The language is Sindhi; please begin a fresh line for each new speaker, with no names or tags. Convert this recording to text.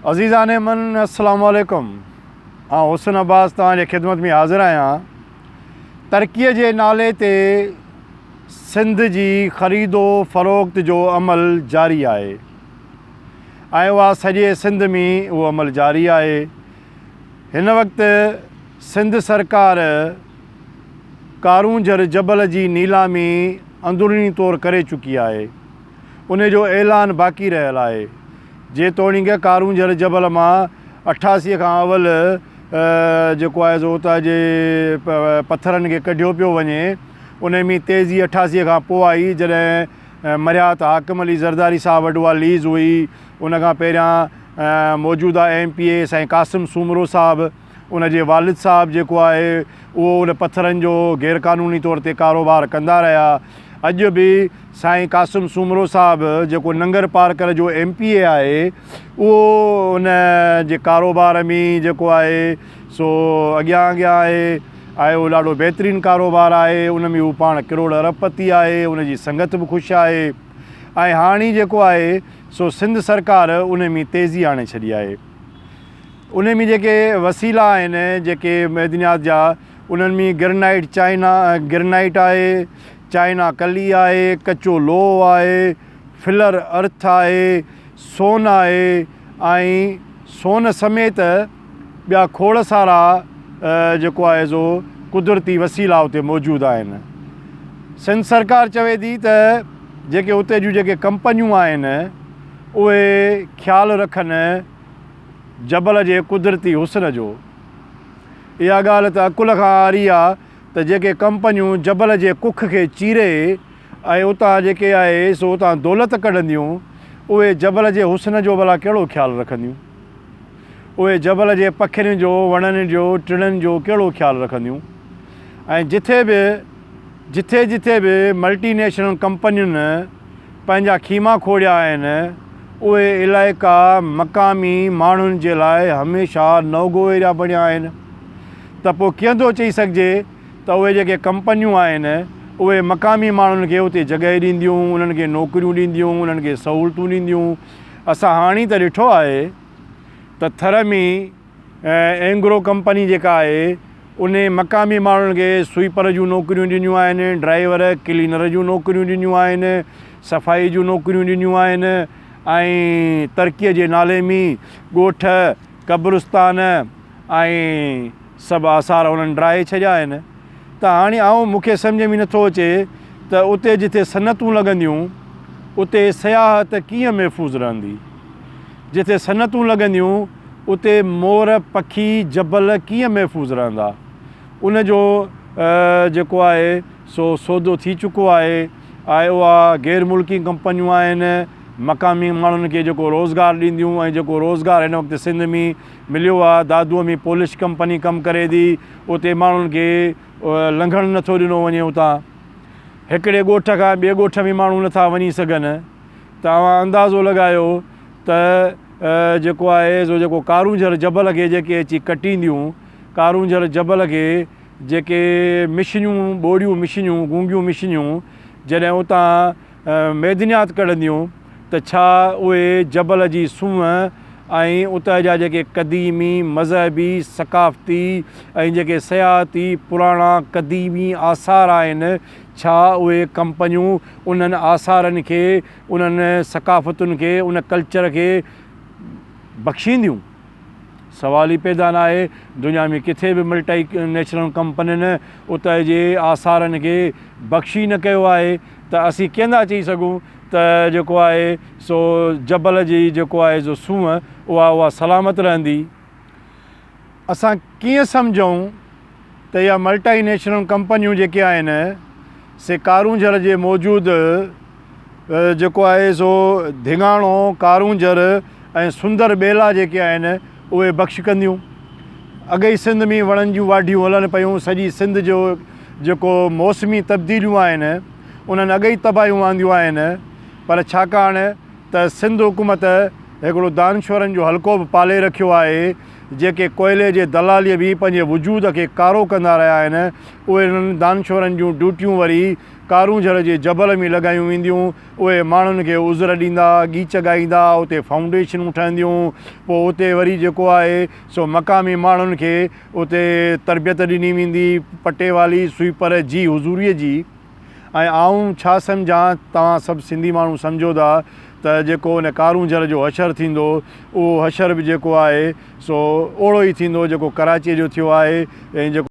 عزيزان من السلام عليڪم آئون حسن عباس توهان جي خدمت ۾ حاضر آهيان ترقي جي نالي تي سنڌ جي خريد و فروخت جو عمل جاري آهي ۽ اها سڄي سنڌ ۾ اهو عمل جاري آهي هن وقت سنڌ سرڪار ڪارونجهر جبل جي نيلامي اندروني طور ڪري چڪي آهي ان جو اعلان باقي رهيل آهي. جيتوڻيڪ ڪارونجهر جبل مان اٺاسي کان اول جيڪو آهي سو اتان جي پٿرن کي ڪڍيو پيو وڃي، ان ۾ تيزي اٺاسي کان پوء آئي جڏهن مرهيات حاڪم علي زرداري صاحب وٽ اها ليز هئي، ان کان پهريان موجوده ايم پي اي سائين قاسم سومرو صاحب، ان جي والد صاحب جيڪو آهي اهو ان پٿرن جو غير قانوني طور تي ڪاروبار ڪندا رهيا. اڄ به سائين قاسم سومرو صاحب جيڪو ننگر پارڪر جو ايم پي اي آهي اهو ان جي ڪاروبار ۾ جيڪو آهي سو اڳيان اڳيان آهي ۽ اهو ڏاڍو بهترين ڪاروبار آهي ان ۾ هو پاڻ ڪروڙ ارب پتي آهي ان جي سنگت به خوش آهي ۽ هاڻي جيڪو آهي سو سنڌ سرڪار ان ۾ تيزي آڻي ڇڏي آهي. انهن ۾ جيڪي وسيلا آهن جيڪي معدنيات جا انهن ۾ گرنائيٽ چائنا گرنائيٽ آهي، چائنا ڪلي آهي، ڪچو لوهه آهي، فلر ارٿ آهي، سون آهي ۽ سون سميت ٻيا کوڙ سارا جيڪو آهي سو قدرتي وسيلا اتي موجود آهن. سنڌ سرڪار چوي ٿي ته جيڪي اتي جون جيڪي ڪمپنيون آهن اهي خيال رکن جبل جي قدرتي حسن جو. اها ڳالهه ته عقل کان عاري آ ته جيڪي ڪمپنيون جبل جي ڪک کي چيري ۽ اتان جيڪي آهي سو اتان دولت ڪڍنديون اهي جبل جي حسن جو ڀلا ڪهڙو خيال رکنديون؟ اهي جبل جي پکين جو، وڻن جو، ٽڻن جو ڪهڙو خيال رکنديون؟ ۽ جٿي به جٿي جٿي به ملٽي نيشنل ڪمپنين پنهنجا خيما کوڙيا آهن، اهي علائقا مقامي ماڻهن جي لاء هميشه نو گو ايريا بڻيا آهن ته پوء ڪيئن ٿو چئي سگهجي ته اهي جيڪي ڪمپنيون آهن اهي مقامي ماڻهن کي اتي جڳهه ڏينديون، انهن کي نوڪريون ڏينديون، انهن کي سهولتون ڏينديون. اسان هاڻي ته ڏٺو آهي ته ٿر ۾ اينگرو ڪمپني جيڪا آهي ان مقامي ماڻهن کي سوئيپر جون نوڪريون ڏنيون آهن ڊرائيور ڪلينر جون نوڪريون ڏنيون آهن صفائي جون نوڪريون ڏنيون آهن ۽ ترقي جي نالي مين ڳوٺ قبرستان ۽ سڀ آثار انهن ڊاهي ڇڏيا آهن ته هاڻي آئون مون کي سمجهه ۾ نٿو اچي ته اتي جتي صنعتون لڳنديون اتي سياحت ڪيئن محفوظ رهندي جتي صنعتون لڳنديون اتي مور، پکي، جبل ڪيئن محفوظ رهندا؟ ان جو جيڪو آهي سو سودو ٿي چڪو آهي ۽ اها غير ملڪي ڪمپنيون آهن، مقامي ماڻهن کي جيڪو روزگار ڏينديون ۽ جيڪو روزگار هن وقت سنڌ ۾ مليو آهي، دادوء ۾ پولش ڪمپني ڪم ڪري ٿي، اتي ماڻهن کي لنگهڻ نٿو ڏنو وڃي اتان، هڪڙي ڳوٺ کان ٻئي ڳوٺ ۾ ماڻهو نٿا وڃي سگهن ته اوهان اندازو لڳايو ته. جيڪو آهي سو جيڪو ڪارونجهر جبل کي جيڪي اچي ڪٽينديون، ڪارونجهر جبل کي جيڪي مشنيون، ٻوڙيون مشنيون، گونگيون مشنيون جڏهن اتان معدنيات ڪڍنديون ته ڇا اهي جبل جي سونهن ۽ اتان جا جيڪي قديمي مذهبي، ثقافتي ۽ جيڪي سياحتي پراڻا قديمي آثار آهن ڇا اهي ڪمپنيون انهن آثارن کي انهن ثقافتن کي، ان ڪلچر کي بخشينديون؟ سوال ئي پيدا نه آهي. دنيا ۾ ڪٿي به ملٽي نيشنل ڪمپنين اتي جي آثارن کي بخش ئي نه ڪيو آهي ته اسين ڪيئن ٿا چئي سگهون ته جيڪو آهي سو جبل جي جيڪو آهي سو سونهن اها اها سلامت رهندي. اسان ڪيئن سمجهون؟ ته اها ملٽائي نيشنل ڪمپنيون جيڪي آهن سي ڪارونجهر جي موجود جيڪو آهي سو ڌيڱاڻو، ڪارونجهر ۽ سندر ٻيلا جيڪي آهن اهي بخش ڪنديون. اڳ ئي سنڌ ۾ وڻن جون واڍيون هلن پيون، سڄي سنڌ جو جيڪو موسمي تبديليون آهن انهن اڳ ئي تباهيون آنديون آهن پر ڇاڪاڻ ته سنڌ حڪومت هڪڙو دانشورن جو حلقو به پالي رکيو آهي، جيڪي ڪوئلي جي دلاليء ۾ پنهنجي وجود کي ڪارو ڪندا رهيا آهن، اهي انهن دانشورن جون ڊيوٽيون وري ڪارونجهر جي جبل ۾ لڳايون وينديون، اهي ماڻهن کي عذر ڏيندا، ڳيچ ڳائيندا، اتي فائونڊيشنون ٺهنديون، پوء اتي وري جيڪو آهي سو مقامي ماڻهن کي اتي تربيت ڏني ويندي، پٽيوالي، سوئيپر، جي حضوريء جي. ۽ آئون ڇا سمجهان توهان سڀ سنڌي ماڻهو سمجهو ٿا ته جيڪو ان ڪارونجهر جو حشر ٿيندو اهو حشر به جيڪو آهي سو اوڙو ئي ٿيندو جيڪو ڪراچيء جو ٿيو آهي ۽ جيڪو